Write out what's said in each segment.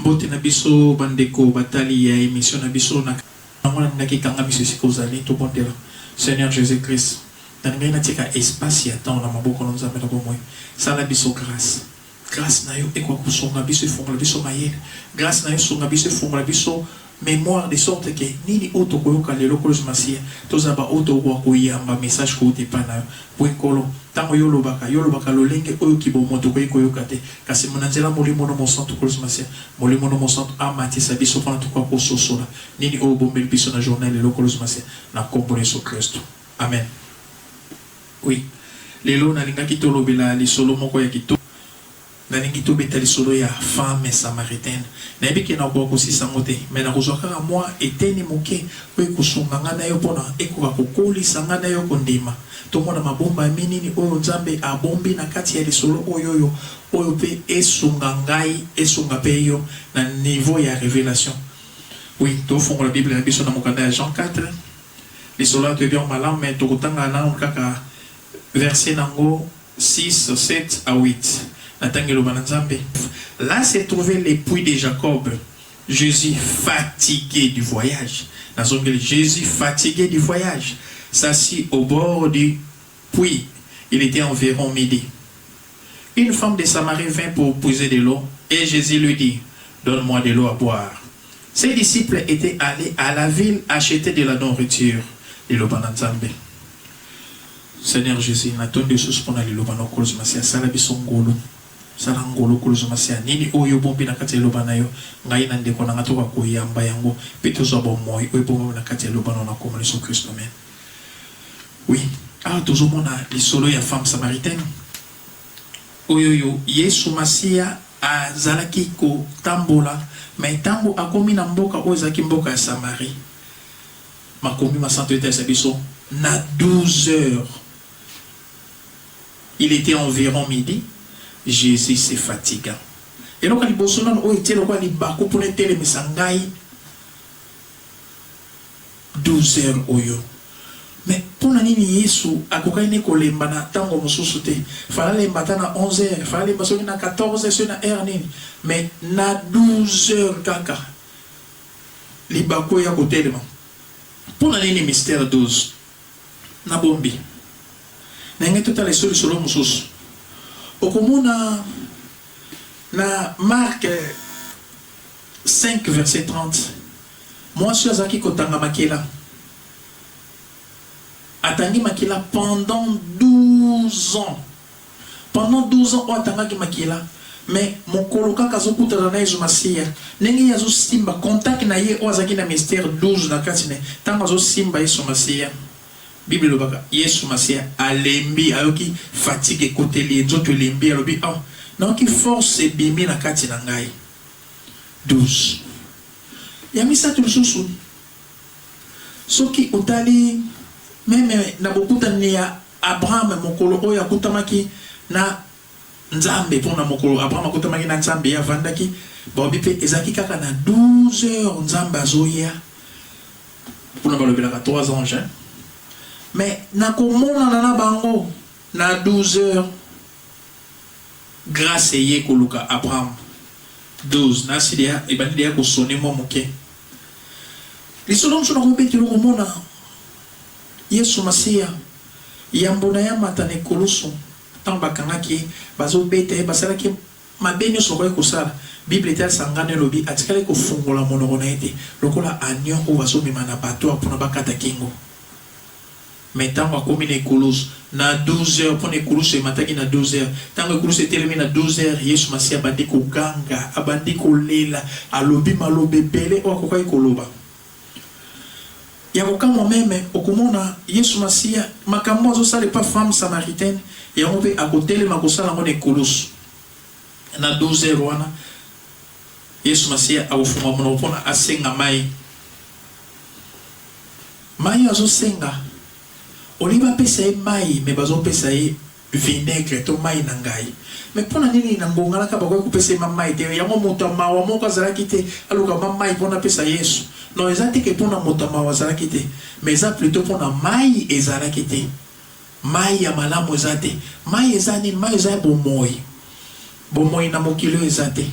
mbote na biso bandeko batali ya emission na biso na yango nalingaki ekanga biso esika ozali tobondela seigneur jésus christ nalingaki natika espace ya temps na maboko na nzambe na bomoi sala biso grâce Grace na yo ekoka kosunga biso efongola biso mayele, grace na yo sunga biso efongola biso memoire de sorte que nini oyo tokoyoka lelo kolo yesu masiya tozala ba oyo tokokoka koyamba message kouta epai na yo po nkolo tango yo olobaka yo olobaka lolenge oyo kibomo tokoki koyoka te kasi na nzela molimo no mosantu kolo yesu masiya molimo no mosantu amatisa biso pona tokoka kososola nini oyo obombeli biso na journal lelo kolo yesu masiya na kombo na yesu kristu amen Oui lelo nalingaki tolobela lisolo moko ya kitoko nalingi tobeta lisolo ya femme samaritaine nayebi ke nakokoka kosisa yango te mais nakozua kaka mua eteni moke oyo ekosunga ngai nayo pona ekoka kokolisa ngai nayo kondima tomona mabombami nini oyo nzambe abombi na kati ya lisolo oyoyo oyo pe esunga ngai esunga pe yo na niveau ya revelation oui tofongola bible na biso na mokanda ya jean 4 Lisolo ya Gedeon malamu mais tokotanga nanu kaka verset nango six, sept à huit. Natangi eloba na Nzambe. Là se trouvait l'epoux de Jacob, Jesus fatigue du voyage, nazongeli Jesus fatigue du voyage s'assit au bord du puits, il etait environ midi. Une femme de Samarie vint pour puiser de l'eau et Jesus lui dit, donne-moi de l'eau à boire. Ses disciples etaient allez à la ville acheter de la nourriture liloba na nzambe Seigneur Jesus na tondi yo susu pona liloba na okolozo masia sala biso ngolu sala ngolu okolozo masia nini oyo obombi na kati ya liloba na yo ngai na ndeko na nga toka koyamba yango pe tozwa bomoi oyo ebombami na kati ya liloba na na komona yesu kristo amen oui awa tozomona lisolo ya femme samaritaine Oyoyo yesu masiya azalaki kotambola mais tango akomi na mboka oyo ezalaki mboka ya samarie makomi masantu etalisa biso na 12 heures il etait environ midi jesus se fatiga eloko ya liboso nanu oyo etie lokola libaku pona etelemisa ngai 12 heures oyo mais pona nini yesu akokaki ne kolemba na tango mosusu te fallait alemba ata na 11 heures fallait alemba soki na 14 heures soki na heure nini mais na 12 heures kaka libaku eya kotelema pona nini mystère 12 na bombi na ngai totala eso lisolo mosusu okomona na marque 5 verset 30 mwasi oyo azalaki kotanga makila atangi makila pendant 12 ans pendant 12 ans oyo atangaki makila mais mokolo kaka azokutana na yezu masiya ndenge ye azosimba contact na ye oyo azalaki na mystère 12 na kati ne ntango azosimba yesu masiya bible elobaka yesu masiya alembi ayoki fatigue ekoteli ye nzoto elembi alobi oh nayoki force ebimi na kati na ngai 12 ya misato lisusu soki otali meme na bokutani ya Abraham mokolo oyo akutamaki na Nzambe po na mokolo Abraham akutamaki na Nzambe ye avandaki balobi pe ezalaki kaka na 12 heures Nzambe azoya kuna balobelaka trois anges hein mais na komonana na bango na 12 heures Grace eye koluka Abraham. 12 na asi deya ebandi deya ko sonner mwa moke. Lisolo mosusu na kobetelo komona Yesu Masiya yambo na ye amata na ekulusu. Tango bakangaki ye, bazo beta ye, basalaki ye mabe nionso bakokaki kosala. Bible etalisa ngando elobi atikali kofungola monoko na ye te, lokola agneau oyo bazo mema na abattoir pona bakata kingo. Mais tango akomi na ekulusu na 12 heures, pona ekulusu emataki na 12 heures, tango ekulusu etelemi na 12 heures, Yesu Masiya abandi koganga, abandi kolela, alobi maloba ebele oyo akokaki koloba. Ya kokamwa meme, okomona Yesu Masiya, makambo oyo azosala epa femme samaritaine, yango pe akotelema kosala yango na ekulusu na 12 heures wana. Yesu masiya akofungola monoko pona asenga mayi mayi azo senga olie bapesa ye mayi me bazo pesa ye vinaigre to mayi na ngayi me pona nini na ngonga naka bakoki kopesa ye ma mayi te yango moto ya mawa moko azalaki te aluka ma mayi pona apesa yesu no eza te ke pona moto ya mawa azalaki te me eza plutot pona mayi ezalaki te mayi ya malamu eza te mayi eza nini mayi eza ya bomoyi Bomoyi na mokili oyo eza te,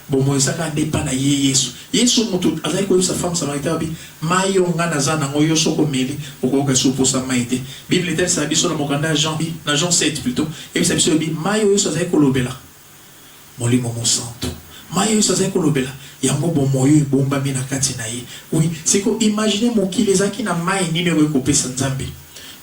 bomoyi eza kaka nde epa na ye Yesu. Yesu mutu azalaki koyebisa femme samaritaine alobi mayi oyo nga naza nango yo soki omeli okoyoka lisusu posa mayi te. Bible etalisaka biso na mokanda ya Jean na Jean sept plutot eyebisa biso elobi mayi oyo Yesu azalaki kolobela molimo mosantu. Mayi oyo Yesu azalaki kolobela yango bomoyi oyo ebombami na kati na ye. Oui sikoyo imagine mokili ezalaki na mayi nini oyo ekoki kopesa nzambe.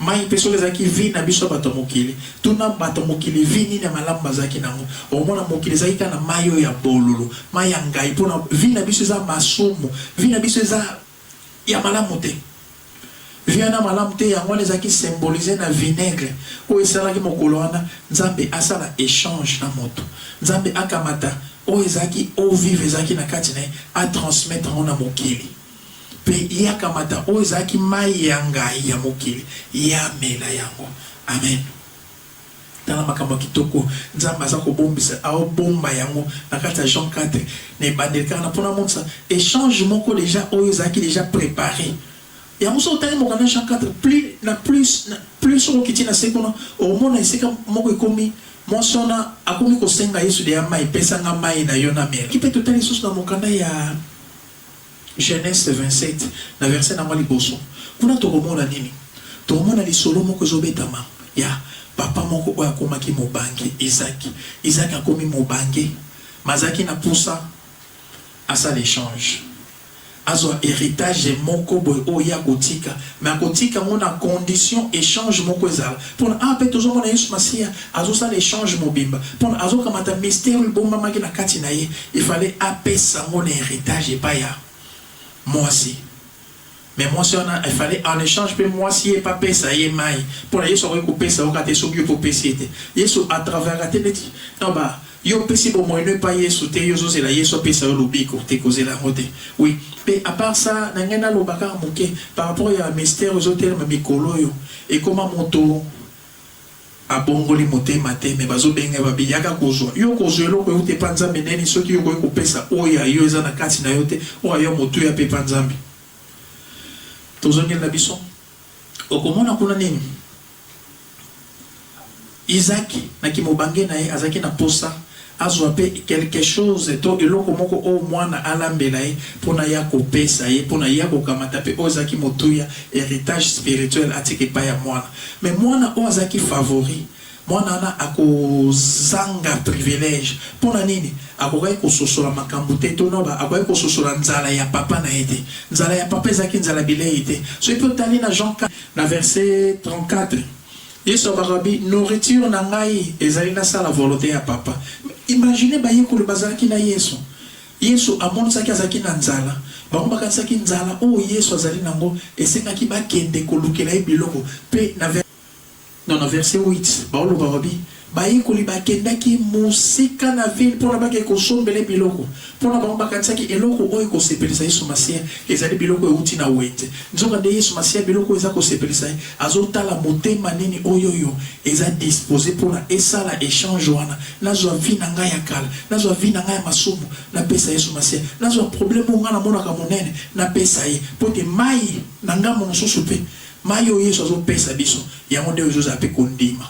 Mai mpe solo ezalaki vie na biso bato ya mokili. Tuna bato ya mokili vie nini ya malamu bazalaki na yango. Okomona mokili ezalaki kaka na mai oyo ya bololo, mai ya ngayi mpo na vie na biso eza masumu. Vie na biso eza ya malamu te. Vie wana ya malamu te yango wana ezalaki symboliser na vinaigre oyo esalaki mokolo wana Nzambe asala echange na moto. Nzambe akamata oyo ezalaki eau vive ezalaki na kati na ye a transmettre yango na mokili. Mpe Ye akamata oyo ezalaki mai ya ngayi ya mokili, Ye amela yango. Amen! Tala makambo kitoko Nzambe aza kobombisa, Aobomba yango na kati ya Jean quatre, na ebandeli kaka, na mpo namonisa echange moko dejà oyo ezalaki dejà preparer. Yango soki otangi mokanda Jean quatre, plus na plus, na plus soki okiti na se kuna, okomona esika moko ekomi, mwasi wana akomi kosenga Yesu dejà mai, Pesa ngai mai na Yo namela. Soki mpe totali lisusu na mokanda ya. Genese 27, na verse na yango ya liboso. Kuna tokomona nini? Tokomona lisolo moko ezobetama ya papa moko oyo akomaki mobange, Izaki. Izaki akomi mobange, mais azalaki na posa asala echange, azwa heritage moko boye oyo ye akotika, mais akotika yango na condition echange moko ezala. Pona awa pe tozo mona Yesu Masiya azo sala echange mobimba pona azo kamata mystère oyo ebombamaki na kati na ye il fallait apesa ngo na heritage epai ya mwasi mais mwasi wana il fallait en echange pe mwasi ye pe apesa ye mayi pona Yesu akoki kopesa yo kaka te soki yo pe opesi ye te Yesu à travaillaka te neti na ba Yo opesi bomoyi no epai yesu te yo ozo zela yesu apesa yo lobiko te kozela yango te oui pe a part ça na ngai naloba kaka moke par rapport ya mystère ezo telema mikolo oyo ekoma moto abongoli motema te mais bazo benga ye ba bi yaka kozua yo kozua eloko ewuta epa nzambe ndeni soki yo okoki kopesa oyo ya yo eza na kati na yo te oyo ya yo motuya pe epa nzambe tozongeli na biso okomona kuna nini. Izaak, na kimobange na ye, azalaki na mposa azwa mpe quelque chose to eloko moko oyo mwana alambela ye mpo na ye akopesa ye, mpo na ye akokamata, mpe oyo ezalaki motuya, heritage spirituel, atika epai ya mwana. Mais mwana oyo azalaki favori, mwana wana akozanga privilège. Mpo na nini? Akokaki kososola makambo te, to noba, akokaki kososola nzala ya papa na ye te. Nzala ya papa ezalaki nzala bilei te. Soki mpe otali na Jean. Na verse 34, Yesu alobaka bi, Nourriture na ngai ezali nasala volonte ya Papa. Imaginez bayekoli bazalaki na Yesu, Yesu amonisaki azalaki na nzala, bango bakanisaki nzala oyo Yesu azali na yango esengaki bakende kolukela ye biloko, mpe na verse. Na, na verse 8, baoloba, babi, Bayekoli bakendaki mosika na vile mpo na bakei kosombela ye biloko. Mpo na bango, bakanisaki eloko oyo ekosepelisa Yesu Masiya ezali biloko euti na wenze. Nzokande Yesu Masiya, biloko oyo eza kosepelisa ye, azotala motema nini oy'oyo eza dispose mpo na esala echange wana. Nazwa vie na ngai ya kala, nazwa vie na ngai ya masumu, napesa Yesu Masiya. Nazwa probleme oyo ngai namonaka monene, napesa ye, mpo te mai na ngambo mosusu mpe Mayi oyo yesu azo pesa biso yango nde ozo zala pe ko ndima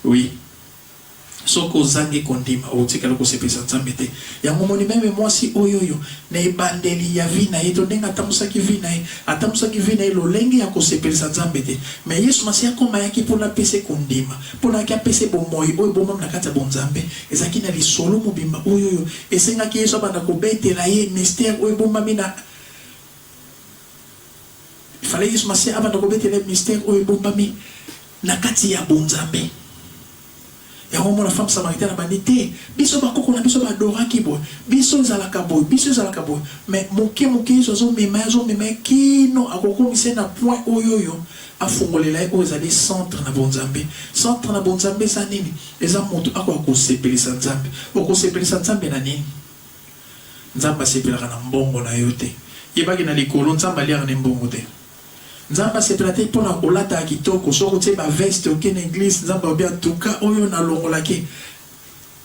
oui soki ozangi ko ndima oko tikala ko sepelisa nzambe te yango omoni meme mwasi oyoyo na ebandeli ya vie naye to ndenge atambusaki vie naye atambusaki vie naye lolenge ya ko sepelisa nzambe te mais yesu masiya akoma ayaki pona apesa ye ko ndima pona ayaki apesa ye bomoyi oyo ebombami na kati ya bo nzambe ezalaki na lisolo mobimba oyoyo esengaki yesu abanda ko betela ye mystere oyo ebombami na Il fallait Yesu Masiya abanda kobetele mystère oyo ebombami na kati ya bonzambe. Yango mona femme samaritaine abandi te, biso bakoko na biso ba adoraki boye, biso ezalaka boye, biso ezalaka boye. Mais moke moke Yesu azomema ye, azomema ye kino akokomisa ye na point oyo oyo afungolela ye oyo ezali centre na bonzambe. Centre na bonzambe eza nini? Eza moto akoka kosepelisa Nzambe. Okosepelisa Nzambe na nini? Nzambe asepelaka na mbongo na yo te. Yeba ke na likolo Nzambe aliaka ne mbongo te. Nzambe asepela te pona olataka kitoko, soki otie ba veste oke na eglise Nzambe alobi en tout cas oyo na longola ke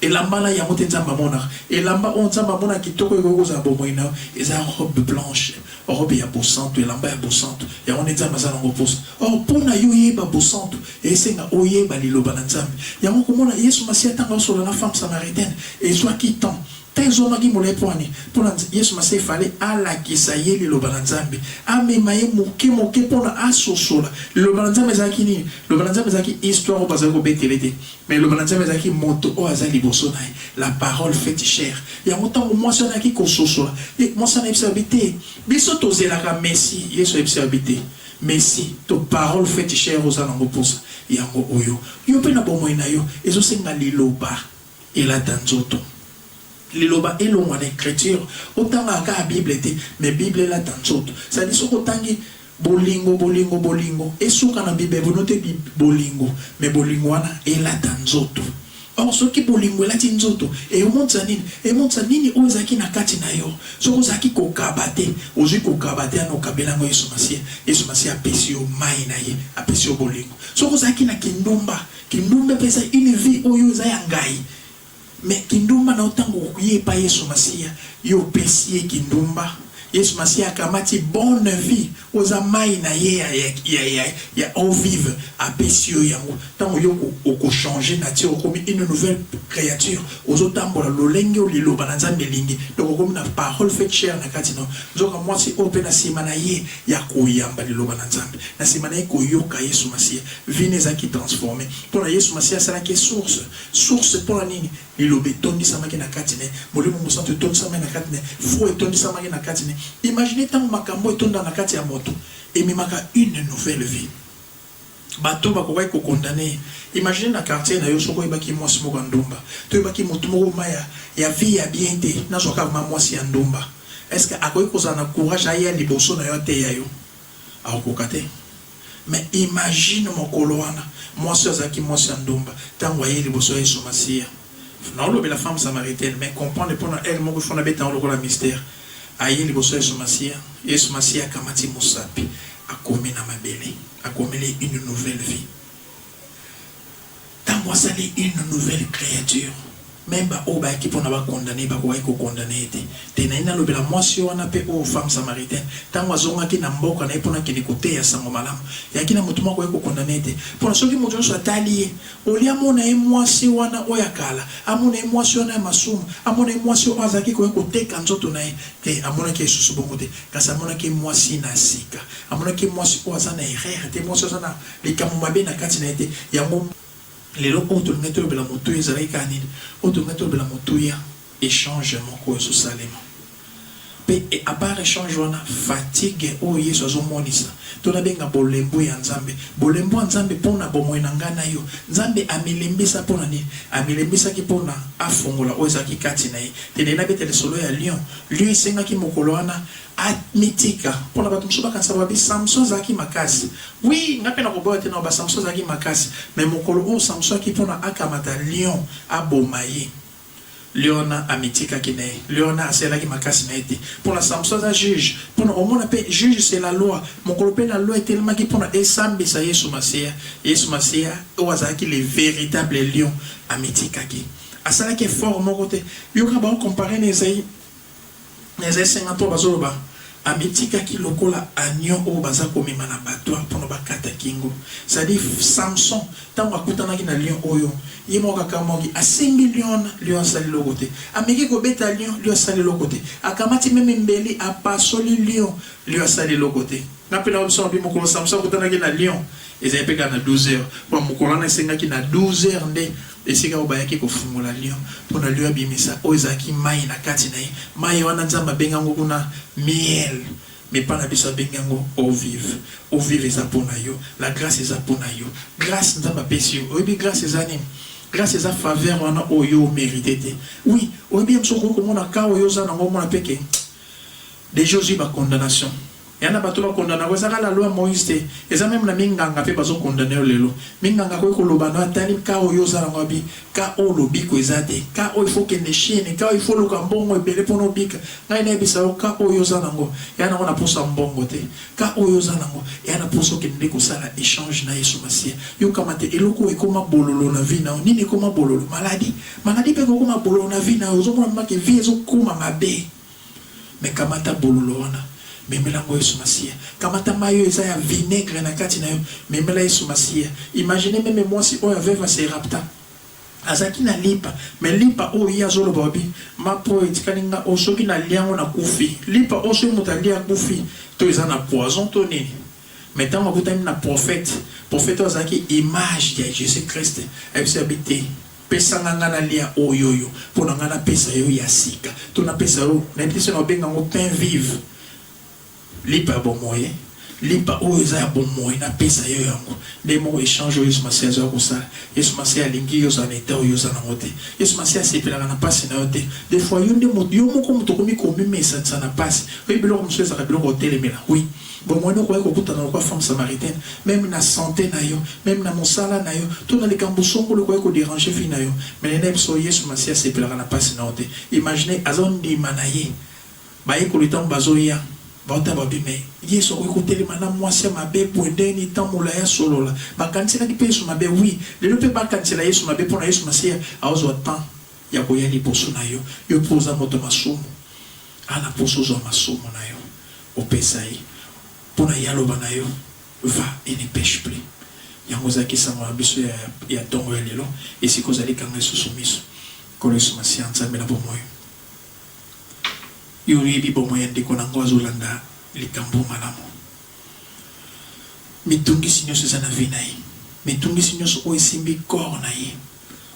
elamba na yango te Nzambe amonaka. Elamba oyo Nzambe amonaka kitoko ekoki kozala bomoyi na yo eza robe blanche. Robe ya bosantu, elamba ya bosantu, yango nde Nzambe aza na yango mposa. Or, mpo na yo oyeba bosantu, esenga oyeba Liloba na Nzambe. Yango okomona Yesu Masiya ntango azosolola na femme samaritaine, ezwaki temps. Temps ezwamaki molai mpo na nini? Mpo na Yesu Masiya il fallait alakisa ye Liloba na Nzambe, amema ye moke moke mpo na asosola. Liloba na Nzambe ezalaki nini? Liloba na Nzambe ezalaki histoire oyo bazali kobetela ye te. Mais Liloba na Nzambe ezalaki moto oyo aza liboso na ye, la parole faite chair. Yango tango mwasi wana ayaki kososola, ye, mwasi wana ayebisaka bi te, biso tozelaka Messie, Yesu ayebisaka bi te, Messie to parole faite chair oza na ngo posa, yango oyo. Yo pe na bomoyi na yo, ezo senga Liloba elata nzoto. Liloba elongwa na ecriture. Otangaka kaka Bible te, mais Bible elata nzoto. C'est à dire soki otangi Bolingo bolingo bolingo esuka na bibebo no te bolingo mais bolingo wana elata nzoto or soki bolingo elati nzoto eomonisa nini emonisa nini oyo ezalaki na kati na yo soki ozalaki kokaba te ozui kokaba te ana okabela ngo yesu masiya yesu masiya apesi yo mayi na ye apesi yo bolingo soki ozalaki na kindumba kindumba epesa une vie oyo eza ya ngayi Mais kindumba na yo tango okuyi epai yesu masiya yo opesi ye kindumba yesu masiya akamati bonne vie oza mayi na ye ya ya ya ya eau vive apesi yo yango tango yo oko oko changer nature okomi une nouvelle creature ozo tambola lolenge oyo liloba na nzambe elingi donc okomi na parole faite chaire na kati na yo nzoka muasi oyo pe na sima na ye ya koyamba liloba na nzambe na sima na ye koyoka yesu masiya vie ne ezalaki transformer pona yesu masiya asalaki ye source Source, Mpo na nini Liloba etondisamaki na kati na ye? Molimo Mosantu etondisamaki na kati na ye. Foi etondisamaki na kati na ye. Imaginez tango makambo etonda na kati ya moto, ememaka une nouvelle vie. Bato bakokaki ko condamner ye. Imaginez na quartier na yo soki oyebaki mwasi moko ya ndumba, to oyebaki moto moko ma ya ya vie ya bien te, nazwa kaka ma mwasi ya ndumba. Est-ce que akoki kozala na courage aya liboso na yo ateya yo? Akokoka te. Mais imagine mokolo wana mwasi oyo azalaki mwasi ya ndumba tangu aye liboso ya yesu masiya naolobela femme samaritaine mais comprendre pona heure moko il faut nabeta yango lokola mistere aye liboso ya yesu masiya yesu masiya akamati musapi akomi na mabele akomeli ye une nouvelle vie Tango asali une nouvelle creature, meme ba oyo bayaki pona ba condamner ye bakokaki ko condamner ye te. Te nalingi nalobela mwasi wana pe oyo femme samaritaine, tango azongaki na mboka na ye pona akende koteya sango malamu, eyaki na mutu moko akoki ko condamner ye te. Pona soki mutu nionso atali ye, au lieu amona ye mwasi wana oyo ya kala, amona ye mwasi wana ya masumu, amona ye mwasi oyo azalaki koya koteka nzoto na ye, te, amonaki ye lisusu bongo te, kasi amonaki ye mwasi na sika, amonaki ye mwasi oyo aza na erreur te, mwasi oyo aza na. Likambo mabe na kati na ye te. Yango lelo oyo tolingaki tolobela motuya ezalaki kaka nini? Oyo tolingaki tolobela motuya echange moko oyo ezo salema. Pe a part echange wana fatigue oyo Yesu azo monisa to na benga bolembu ya Nzambe, bolembu ya Nzambe pona bomoyi na ngai na yo. Nzambe amilembisa pona nini? Amilembisaki pona afongola oyo ezalaki kati na ye. Te na ye na beta lisolo ya lion. Lion esengaki mokolo wana. A mitika pona batu mosusu bakanisa babi Samson azalaki makasi oui nga pe nako boya te naloba Samson azalaki makasi mais mokolo oyo Samson ayaki pona akamata lion aboma ye liona amitikaki naye liona asalelaki makasi naye te pona Samson aza juge pona omona pe juge c'est la loi mokolo pe la loi etelemaki pona esambisa yesu masiya yesu masiya oyo azalaki le veritable lion amitikaki asalaki effort moko te yoka bao comparer na esaie Eza esenga po bazo loba amitikaki lokola agneau oyo baza komema na battoir po na bakata kingo c'est à dire Samson tango akutanaki na lion oyo ye moko akamuaki asimbi lion wana lion asali eloko te ameki kobeta lion lion asali eloko te akamati meme mbeli apasoli lion lion asali eloko te nga pe nayebi biso na bino mokolo Samson akutanaki na lion ezali pe kaka na 12 heures po mokolo wana esengaki na 12 heures nde Esika oyo bayaki kofungola lyo, mpo na lyo abimisa oyo ezalaki mai na kati na ye, mai wana Nzambe abengi yango kuna miel, mais epai na biso abengi yango eau vive. Eau vive eza mpo na yo, la grace eza mpo na yo. Grace Nzambe apesi yo, oyebi grace eza nini? Grace eza faveur wana oyo yo o meriter te. Oui, oyebi ye mosusu okoki komona cas oyo yo oza na yango, omona mpe que dejà ozui ba condamnations. Ya na bato ba condamna ko ezaka la loi moise te eza meme na minganga pe bazo condamne yo lelo minganga akoki koloba no atali cas oyo oza nango abi cas oyo olobi ko eza te cas oyo il faut okende chine cas oyo il faut oluka mbongo ebele pona obika ngai nayebisa yo cas oyo oza nango ya nango na posa mbongo te cas oyo oza nango ya na posa okende nde kosala echange na yesu masiya yo kamate eloko oyo ekoma bololo na vie nao nini ekoma bololo maladie maladie pe ekokoma bololo na vie nao ozomona mema ke vie ezokoma mabe. Mais kamata bololo wana memela yango yesu masiya kamata mayi oyo eza ya vinaigre na kati nayo memela yesu masiya imagine meme mwasi oyo ya veuve a se rapta azalaki na lipa mais lipa oyo ye azo loba obi mapa oyo etikali nga oyo soki na lia yango na kufi lipa oyo soki mutu alia akufi to eza na poison to nini mais tango akutani na prophète prophète oyo azalaki image ya jesus christ ayebisi abi te Pesa nga nga na lia oyoyo pona nga na pesa yo ya sika to na pesa yo nayebi te soki nao benga ngo pain vive lipa ya bomoye lipa oyo eza ya bomoyi na pesa yo yango nde moko echange oyo yesu masiya azo ya kosala yesu masiya alingi yo zala na etat oyo oza na ngo te yesu masiya asepelaka na pasi na yo te de fois yo nde yo moko moto okomi ko mimesa tisa na pasi oyebi biloko mosusu ezaka biloko otelemela oui Bomoni, okokaki kokutana lokola femme samaritaine, meme na sante na yo, meme na mosala na yo, to na likambo songolo ekokaki ko deranger vie na yo. Mais nayebi solo, Yesu Masiya asepelaka na pasi na yo te. Imaginez, azo ndima na Ye, bayekoli tango bazo ya, bao tala babi, mais Yesu akoki kotelema na mwasi ya mabe boye ndenge nini temps molayi asolola? Bakaniselaki pe Yesu mabe? Oui, lelo pe bakanisela Yesu mabe pona Yesu Masiya akozwa temps ya koya liboso na yo, yo pe oza moto ya masumu. A na posa ozwa masumu na yo opesa ye mpo na ye aloba na yo Va et ne peche plus. Yango ezalaki sango na biso ya ya ntongo ya lelo. Esika ozali kanga lisusu miso. Nkolo Yesu Masiya, Nzambe na bomoyi, Yo oyebi bomoi ya ndeko na nga oyo azo landa likambo oyo malamu. Mitungisi nionso eza na vie na ye, mitungisi nionso oyo esimbi corps na ye,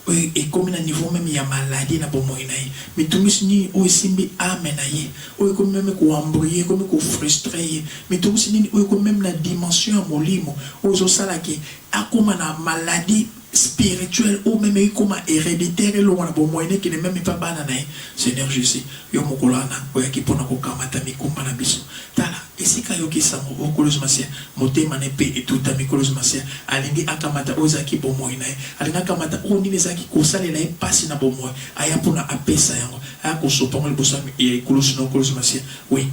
oyo ekomi na niveau meme ya maladie na bomoyi na ye, mitungisi nini oyo esimbi ame na ye, oyo ekomi meme ko embrouiller, ekomi ko frustrer ye, mitungisi nini oyo ekomi meme na dimension ya molimo, oyo ezo sala que akoma na maladie spirituelle oyo meme ekoma hereditaire, elongwa na bomoyi na ye ekende meme epa bana na ye. Seigneur Jesus, yo mokolo wana oyaki pona ko kamata mikumba na biso, tala, Esika ayoki sango o Nkolo Yesu Masiya, motema na ye mpe etutami. Nkolo Yesu Masiya alingi akamata oyo ezalaki bomoi na ye. Alingi akamata oyo nini ezalaki kosalela ye mpasi na bomoi, aya mpo na apesa yango, aya kosopa yango liboso ya ekulusu na yo, Nkolo Yesu Masiya. Oui,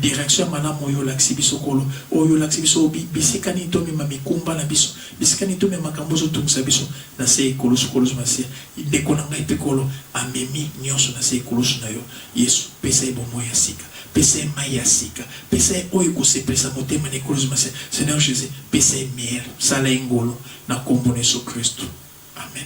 direction ya malamu oyo olakisi biso, Nkolo. Oyo olakisi biso bi, bisika nini tomema mikumba na biso, bisika nini tomema makambo oyo ezotungisa biso na se ya ekulusu, Nkolo Yesu Masiya. Ndeko na ngai mpe, Nkolo, amemi nyonso na se ya ekulusu na yo. Yesu, pesa ye bomoi ya sika. Pesa ye mayi ya sika. Pesa ye oyo ekosepelisa motema na ekolozima se. Seigneur Jesus, pesa ye miel. Sala ye ngolu na kombo na Yesu Kristu. Amen.